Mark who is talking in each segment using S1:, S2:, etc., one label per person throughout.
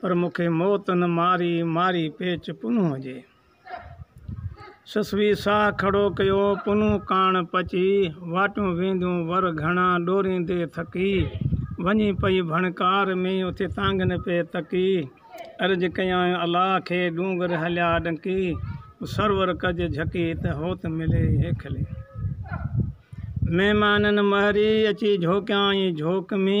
S1: پر مون کي موت نه ماري، ماري پيچ پنهون جي. سسوي ساهه کڙو ڪيو، پنهون ڪاڻ پچي، واٽون وينديون ور گهڻا، ڏوريندي ٿڪي، وڃي پئي ڀڻڪار ۾، اٿي تانگهن پئي تڪي، عرض ڪيائين الله کي، ڏونگر هليا ڏنڪي، تو سرور ڪج جهڪي، ته هوت ملي هيکلي. مهمانن مهري، اچي جهوڪيائين جهوڪ ۾.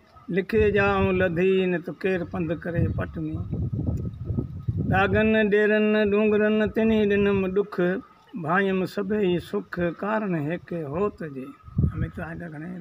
S1: لکي جا آئون لڌي نه ته ڪير پنڌ ڪري پٽ ۾. ڏاگهن ڏيرن ڏونگرن تنهي ڏنم ڏک، ڀانئيم سڀيئي سک ڪارڻ هيڪي هوت جي.